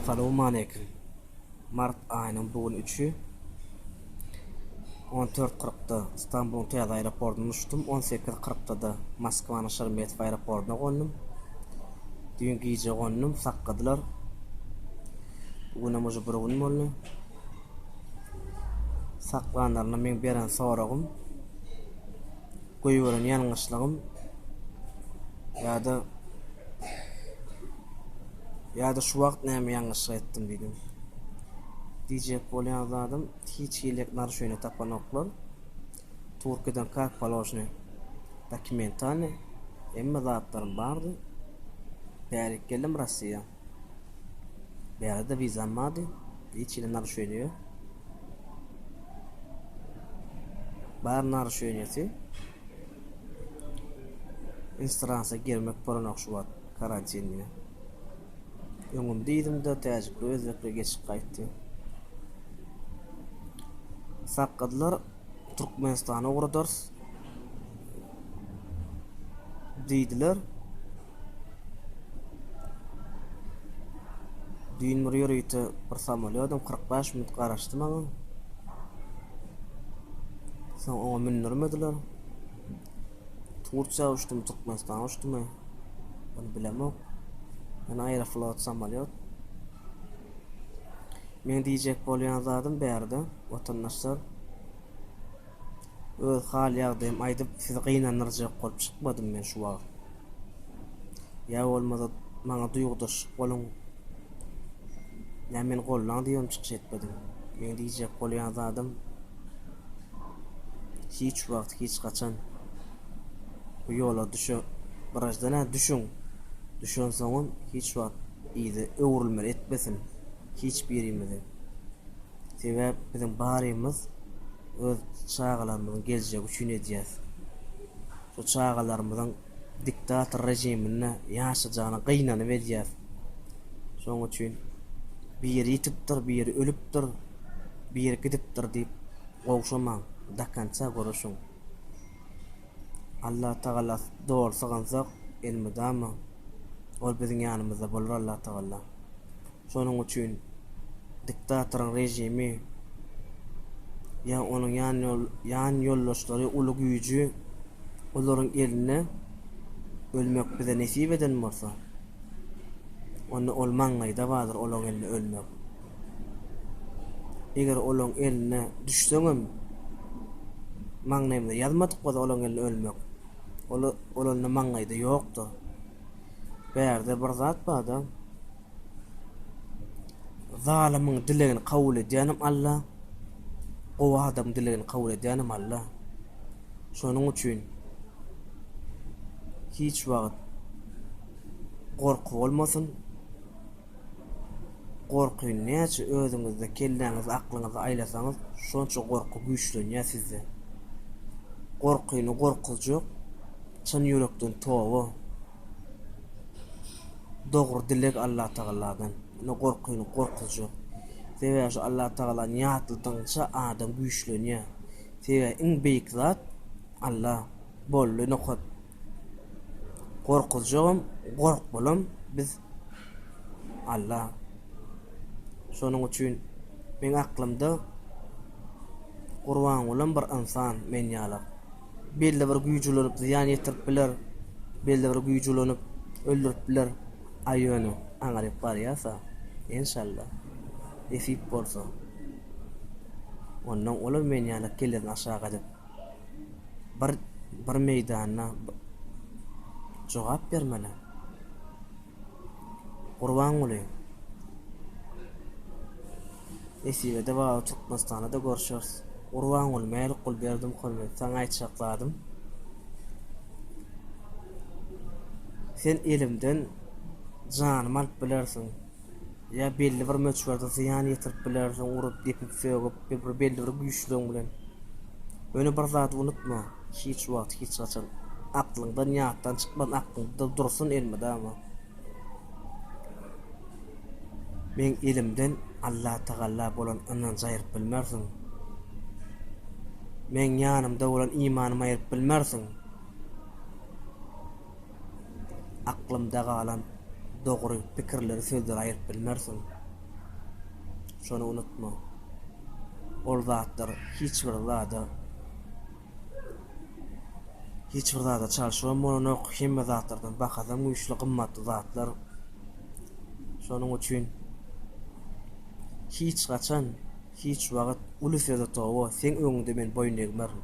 Salowmaleýkim. Mart aýynyň bu gün üçi on dört kyrkda Stambulyň täze aeroportyndan uçdum, on sekiz kyrkda-da Moskwanyň Şeremetewo aeroportyna gondum. Düýn gije gondum, sakgadylar. Bu günem uje bir gün boldy. Saklanlarynda meň beren soragym, goýberen ýalňyşlygym ýa-da ýa-da şu wagt näme ýalňyşlyk etdim diýdim. Diýjek bolýan zadym, hiç hili narusheniýe tapanoklar. Turkiýadan kak položny dokumentalny hemme zatlarym bardy. Bärik geldim Rossiýa. Bärde wizam bardy. Hiç ýere naruşeniýe. Bar naruşeniýesi. Instansa girmek bolanok şu wagt karantin diýip. Öňüm diýdim-de täjikli özbekle geçip gaýtdy. Sakgadylar Türkmenistana ugradarys. diýdiler. Düýn bir ýörite bir samolýodum 45 minut garaşdy maňa. Soň oňa mündirmediler. Tursiýa uçdum, Türkmenistana uçdum. Bunu bilemok. Yani Aeroflot samolyot. Men diyecek bolyan zadım bärde vatandaşlar Öz hal-ýagdaýymy aýdyp, sizi gynandyrjak bolup çykmadym men şu wagt. Ýa bolmasa, maňa duýgudaş boluň. Näme meni goldaň diýibem çykyş etmediň? Meň diýjek bolýan zadym, hiç wagt, hiç haçan bu ýola düşe Wrajdan ä düşüň. Düşensoňam hiç wagt yza öwrülmeli etmesin hiç birimizi. Sebäp biziň barymyz öz çagalarymyzyň geljegi üçin edýäs. Şu çagalarymyzyň diktator rejiminde ýaşajagyna gynanyp edýäs. Şoň üçin biri ýitipdir, biri ölüpdir, biri gidipdir diýip gowşamaň, dokonça göreşiň. Allatagala doly sygynsak, elmydama Ol biziň ýanymyzda bolar Allatagala. Şonuň üçin diktatoryň režimi ýa onuň ýan ýoldaşlary uly güýji olaryň elinde ölmek bize nesip eden bolsa, onda ol maňlaýda bardyr olaň elinde ölmek. Eger olaň eline düşseňem maňlaýymyza ýazmadyk bolsa olaň elinde ölmek, ol onda maňlaýda ýokdur. Bärde bir zat barda. Zalymyň dilegini kabul edýänem Alla, gowy adamyň dilegini kabul edýänem Alla. Şonuň üçin hiç wagt gorky bolmasyn. Gorky näçe özüňizde, kelläňizde, aklyňyzda aýlasaňyz, şonça gorky güýçlenýär sizde. Gorkyny gorkuzjak çyn ýürekden toba. Dogry dileg Allatagaladan. Ine gorkyny gorkuzja. Sebäbi şu Allatagalany ýatladygyňça adam güýçlenýär. Sebäbi iň beýik zat Alla. Boldy nokat. Gorkuzjagam, gorkmalam biz Alla. Şonuň üçin meň aklymda Gurbangulam bir ynsan men ýalak. belli bir güýji ulanyp zyýan ýetirip biler, belli bir güýji ulanyp öldürip biler, a ýöne aňryk barýarsa, enşalla, nesip bolsa, onnoň olam men ýaly kellesin aşak edip, bir bir meýdanda jogap bermeli. Gurbanguly, Nesibede bagy Türkmenistanda-da görşeris. Gurbanguly, Mälikgul Berdimuhamedow, saňa aýtjak zadym, sen elimden janymy alyp bilersiň. Ýa belli bir möçberde zyýan ýetirip bilersiň, urup, depip, sögüp, bir bir belli bir güýçlügiň bilen. Ýöne bir zady unutma, hiç wagt, hiç haçan aklyňdan, ýatdan çykmasyn, aklyňda dursun elmydama. Meň elimden Allatagalla bolan ynanjy aýryp bilmersiň. Meň ýanymda bolan imanymy aýryp bilmersiň. aklymda galan dogry pikirleri sözlere aýryp bilmersiň. Şony unutma. Ol zatlar hiç bir zada hiç bir zada çalşygam bolanok, hemme zatlardan bahasam güýçli, gymmatly zatlar. Şonuň üçin hiç haçan, hiç wagt uly söze toba, seň öňüňde men boýun egmerin.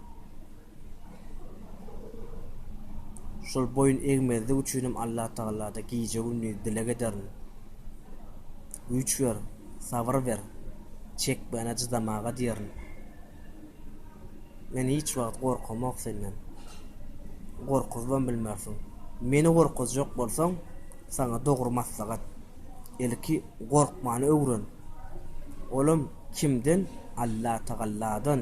Şol boýun egmezlik üçinem Allatagalada gije-gündiz dileg ederin. Güýç ber, sabyr ber, çekmäne çydamaga diýerin. Men hiç wagt gorkamok senden. Gorkuzybam bilmersiň. Meni gorkuzjak bolsaň, saňa dogry maslahat, ilki gorkmany öwren. Olam kimden? Allatagalladan.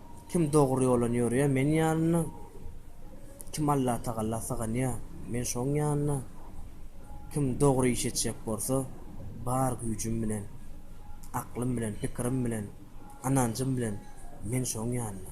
Kim dogry ýolan ýörýär Men ýanynda, Kim Allatagalla syganýar Men şoň ýanynda, Kim dogry iş etjek bolsa Bar güýjüm bilen, Aklym bilen, Pikirim bilen, Ynanjym bilen Men şoň ýanynda.